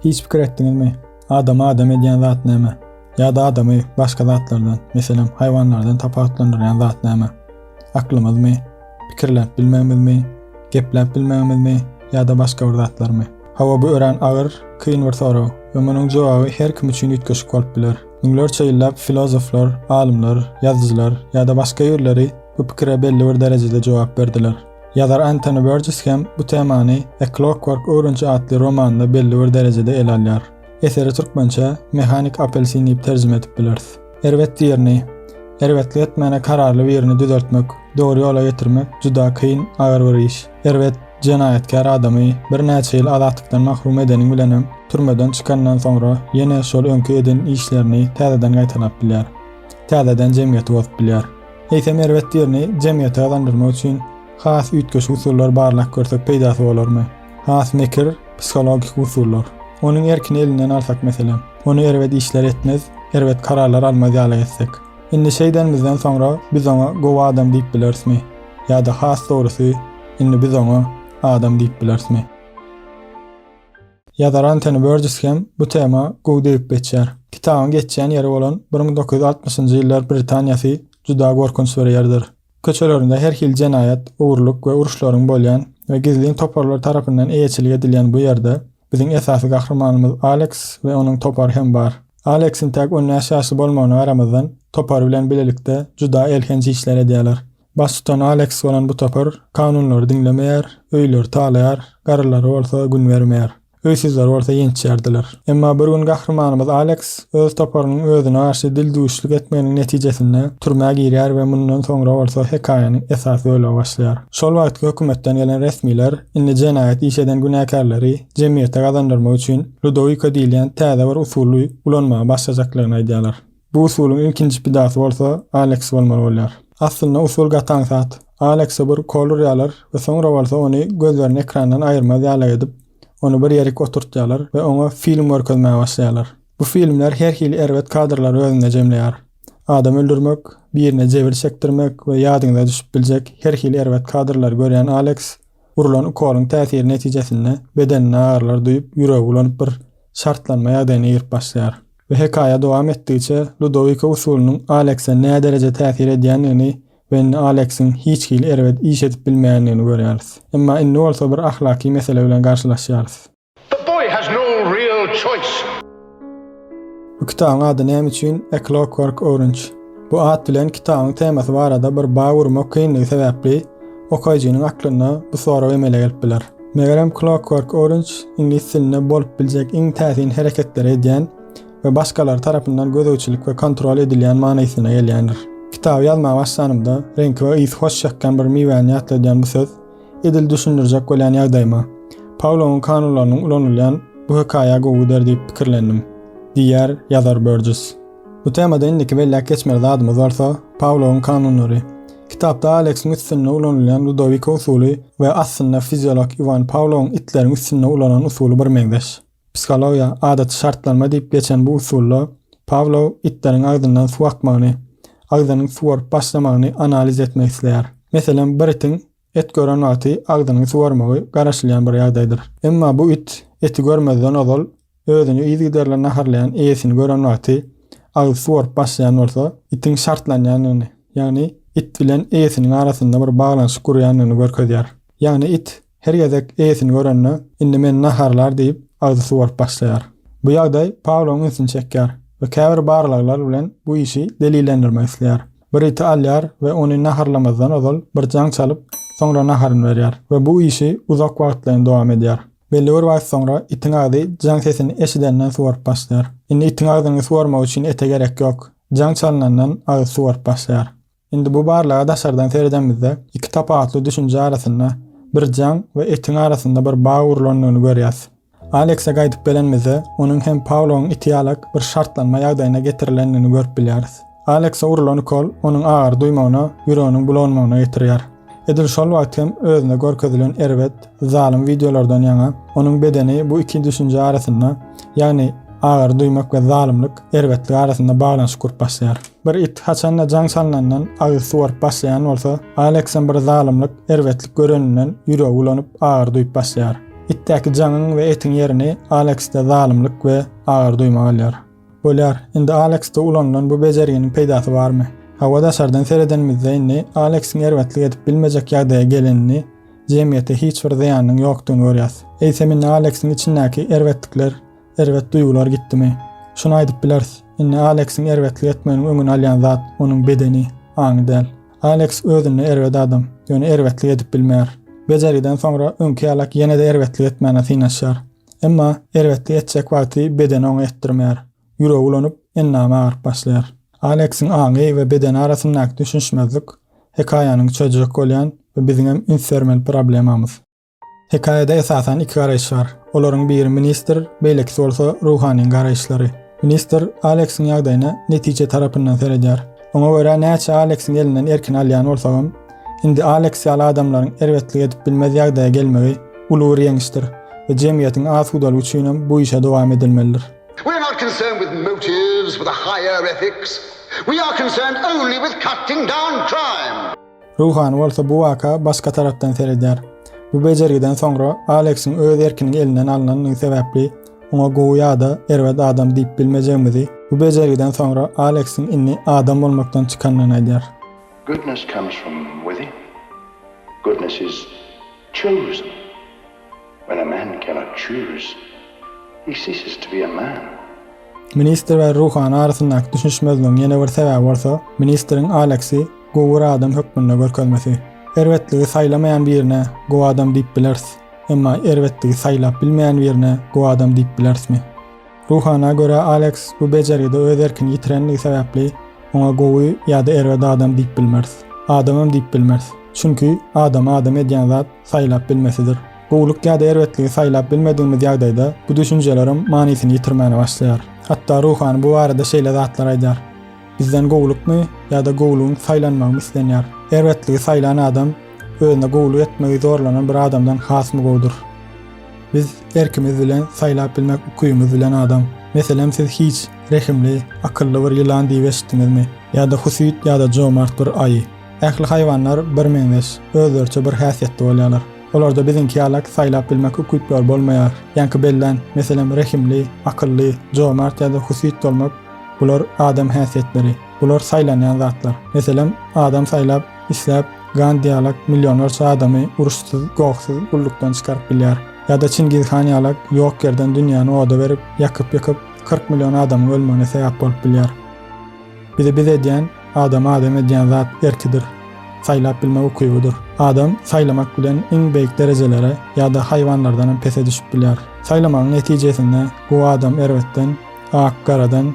Hiç pikir etdiňizmi? Adamy adam edýän zat näme? Ýa-da adamy başga zatlardan, meselem, haýwanlardan tapawutlandyrýan zat näme? Aklymyzmy? Pikirläp bilmegimizmi? Gepläp bilmegimizmi? Ýa-da başga bir zatlarmy? Hawa, bu örän agyr, kyn bir sorag we munuň jogaby her kim üçin üýtgeşik bolup biler. Müňlerçe ýyllap filozoflar, alymlar, ýazyjylar ýa-da başga ýörleri bu pikire belli bir derejede jogap berdiler. Ýazar Entoni Berjis hem bu temany A Clockwork Orange atly romanynda belli bir derejede ele alýar. Eseri türkmençä Mehanik apelsin diýip terjime edip bileris. Erbet birini, erbetlik etmäne kararly birini düzeltmek, dogry ýola getirmek juda kyn, agyr bir iş. Erbet, jenaýatkär adamy birnäçe ýyl azatlykdan mahrum edeniň bilenem, türmeden çykanyndan soňra ýene şol öňki eden işlerini täzeden gaýtalap bilýär. Täzeden jemgyýeti bozup bilýär. Eýsem erbet ýerini jemgyýete gazandyrmak üçin has üýtgeşik usullar barlap görsek peýdasy bolarmy? Has mekir, psihologik usullar. Onuň erkini elinden alsak meselem. Ony erbet işler etmez, erbet kararlar almaz ýaly etsek. Indi şeýdenimizden soňra biz oňa gowy adam diýip bilerismi? Ýa-da has dogrusy, indi biz oňa adam diýip bilerismi? Ýazar Antoni Börjis hem bu tema gowy degip geçýär. Kitabyň geçýän ýeri bolan bir müň dokuz ýüz altmyşynjy ýyllar Britaniýasy juda gorkunç bir ýerdir. Köçelerinde her hili jenaýat, ogurlyk we uruşlaryň bolýan we gizlin toparlar tarapyndan eýeçilik edilýän bu ýerde biziň esasy gahrymanymyz Aleks we onuň topary hem bar. Aleksiň täk on bäş ýaşly bolmagyna garamazdan, topary bilen bilelikde juda elhenç işler edýärler. Baştutan Aleks bolan bu topar kanunlary diňlemeýär, öýleri talaýar, garrylara bolsa gün bermeýär. Öýsüzler bolsa ýençýärdiler. Emma bir gün gahrymanymyz Aleks öz toparynyň özüne garşy dildüwüşlik etmeginiň netijesinde türmä girýär we mundan soňra bolsa hekaýanyň esas bölegi başlaýar. Şol wagtky hökümetden gelen resmiler indi jenaýat iş eden günäkärleri jemgyýete gazandyrmak üçin Ludowiko diýilýän täze bir usuly ulanmaga başlajaklygyny aýdýarlar. Bu usulyň ilkinji pidasy bolsa Aleks bolmaly bolýar. Aslynda usul gataň zat. Alekse bir ukol urýarlar we soňra bolsa ony gözlerini ekrandan aýyrmaz ýaly edip, ony bir ýerik oturtýarlar we oňa film görkezmäge başlaýarlar. Bu filmler her hili erbet kadrlary özünde jemleýär. Adam öldürmek, birine jebir çekdirmek we ýadyňyza düşüp biljek her hili erbet kadrlary görýän Aleks, urulan ukolyň täsiri netijesinde bedeninde agyrlar duýup, ýüregi ulanyp bir şartlanma ýagdaýyna girip başlaýar. We hekaýa dowam etdigiçe Ludowiko usulynyň Alekse nädereje täsir edýändigini we indi Aleksiň hiç hili erbet iş edip bilmeýändigini görýäris. Emma indi bolsa bir ahlaky mesele bilen garşylaşýarys. The boy has no real choice. Bu kitabyň ady näme üçin A Clockwork Orange? Bu at bilen kitabyň temasy barada bir bag urmak kyndygy sebäpli, okaýjynyň aklynda bu sorag emele gelip biler. Megerem Clockwork Orange iňlis dilinde bolup biljek iň täsin hereketleri edýän we başgalar tarapyndan gözegçilik we kontrol edilýän manysyna gelýändir. Kitaby ýazmaga başlanymda reňki we ysy hoş çykýan bir miwäni ýatladýan bu söz edil düşündirjek bolýan ýagdaýyma, Paulowyň kanunlarynyň ulanylýan bu hekaýa gowy gider diýip pikirlendim, diýýär ýazar Börjis. Bu temada indiki belläp geçmeli zadymyz bolsa, Pawlowyň kanunlary. Kitapda Aleksiň üstünde ulanylýan Ludowiko usuly we aslynda fiziolog Iwan Pawlowyň itleriň üstünde ulanan usuly birmeňzeş. Psihologiýa, adaty şartlanma diýip geçen bu usulda Pawlow itleriň agzyndan suw akmagyny, agzynyň suwaryp başlamagyny analiz etmek isleýär. Meselem, bir itiň It gören wagty agzynyň suwarmagy garaşylýan bir ýagdaýdyr. Emma bu it eti görmezden ozal özüni yzygiderli naharlaýan eýesini gören wagty agzy suwaryp başlaýan bolsa, itiň şartlanýandygyny, ýagny it bilen eýesiniň arasynda bir baglanyşyk gurýandygyny görkezýär. Ýagny it her gezek eýesini görende, indi meni naharlar diýip, agzy suwaryp başlaýar. Bu ýagdaý Pauloň ünsüni çekýär we käbir barlaglar bilen bu işi delillendirmek isleýär. Bir iti alýar we ony naharlamazdan ozal bir jaň çalyp, soňra naharyny berýär we bu işi uzak wagtlaýyn dowam edýär. Belli bir wagt soňra itiň agzy jaň sesini eşidenden suwaryp başlaýar. Indi itiň agzyny suwarmak üçin ete gerek ýok. Jaň çalynandan agzy suwaryp başlaýar. Indi bu barlaga daşardan seredemizde, iki tapawutly düşünje arasynda bir jaň we etiň arasynda bir bag gurlandygyny görýäs. Alekse gaýdyp gelenimizde, onuň hem Pauloň iti ýalak bir şartlanma ýagdaýyna getirilendigini görüp bilýäris. Alekse urulan ukol onuň agyry duýmagyna, ýüreginiň bulanmagyna getirýär. Edil şol wagt hem özüne görkezilen erbet, zalym wideolardan ýaňa, onuň bedeni bu iki düşünje arasynda, ýagny agyry duýmak we zalymlyk, erbetlik arasynda baglanyşyk gurup başlaýar. Bir it haçanda jaň salnandan agyz suwaryp başlaýan bolsa, Aleksyň bir zalymlyk, erbetlik göreninden ýüregi bulanyp, agyr duýup başlaýar. Itdäki jaňyň we etiň ýerini Aleksde zalymlyk we agyr duýmak alýar. Bolýar, indi Aleksde ulanylan bu bejerginiň peýdasy barmy? Hawa, daşardan seredenimizde indi Aleksyň erbetlik edip bilmejek ýagdaýa gelenini, jemgyýete hiç bir zyýanynyň ýokdugyny görýäs. Eýsem indi Aleksyň içindäki erbetlikler Erbet duýgular gitdimi? Şuny aýdyp bileris, indi Aleksiň erbetlik etmeginiň öňüni alýan zat onuň bedeni, aňy däl. Aleks özünde erbet adam, ýöne erbetlik edip bilmeýär. Bejergiden soňra öňki ýalak ýene-de erbetlik etmäne synanyşýar. Emma erbetlik etjek wagty bedeni oňa etdirmeýär. Ýüregi ulanyp, endamy agaryp başlaýar. Aleksiň aňy we bedeni arasyndaky düşünişmezlik hekaýanyň çözjek bolýan we biziňem üns bermeli problemamyz. Hekaýada esasan iki garaýyş bar. Olaryň biri ministr, beýlekisi bolsa ruhanyň garaýyşlary. Ministr Aleksiň ýagdaýyna netije tarapyndan seredýär. Oňa görä näçe Aleksiň elinden erkin alýan bolsagam, indi Aleks ýaly adamlaryň erbetlik edip bilmez ýagdaýa gelmegi uly bir ýeňişdir we jemgyýetiň asudalygy üçinem bu işe dowam edilmelidir. We are not concerned with motives, with a higher ethics. We are concerned only with cutting down crime. Ruhany bolsa bu waka başga tarapdan seredýär. Bu bejergiden soňra Aleksiň öz erkiniň elinden alnandygy sebäpli oňa gowy ýa-da erbet adam diýip bilmejegimizi, bu bejergiden soňra Aleksiň indi adam bolmakdan çykandygyny aýdýar. Goodness comes from within. Goodness is chosen. When a man cannot choose, he ceases to be a man. Ministr we ruhany arasyndaky düşünişmezligiň ýene bir sebäbi bolsa, ministriň Aleksi guwur adam hökmünde görkezmesi. Erbetligi saýlamaýan birine gowy adam diýip bileris, emma erbetligi saýlap bilmeýän birine gowy adam diýip bilerismi? Ruhana görä, Aleks bu bejergide öz erkini ýitirendigi sebäpli, oňa gowy ýa-da erbet adam diýip bilmeris. Adamam diýip bilmeris. Çünki, adamy adam edýän zat saýlap bilmesidir. Gowulyk ýa-da erbetligi saýlap bilmedigimiz ýagdaýda, bu düşünjelerim manysyny ýitirmäne başlaýar. Hatda ruhany bu barada şeýle zatlar aýdýar, Bizden gowulykmy ýa-da gowulygyň saýlanmagymy islenýär? Erbetligi saýlan adam özüne gowulyk etmegi zorlanan bir adamdan hasmy gowudyr? Biz erkimiz bilen saýlap bilmek ukyňyz bilen adam. Meselem siz hiç, rehimli, akylly bir ýylan diýip eşitdiňizmi? Ýa-da husyt ýa-da jomart bir aýy. Ähli haýwanlar birmeňzeş, özleriçe bir häsiýetli bolýarlar. Olarda biziňki ýalak saýlap bilmek ukyplary bolmaýar. Ýaňky bellän, meselem rehimli, akylly, jomart ýa-da husyt bolmak, bular adam häsiýetleri. Bular saýlanýan zatlar. Meselem, adam saýlap, isläp, Gandi ýalak millionlarça adamy uruşsyz, gohsyz gullukdan çykaryp bilýär. Ýa-da Çingiz han ýalak ýok ýerden dünýäni oda berip, ýakyp-ýykyp, kyrk million adamyň ölmegine sebäp bolup bilýär. Bizi biz edýän, adamy adam edýän zat erkidir, saýlap bilmek ukybydyr. Adam saýlamak bilen iň beýik derejelere ýa-da haýwanlardanam pese düşüp bilýär. Saýlamagyň netijesinde gowy adam erbetden, ak garadan,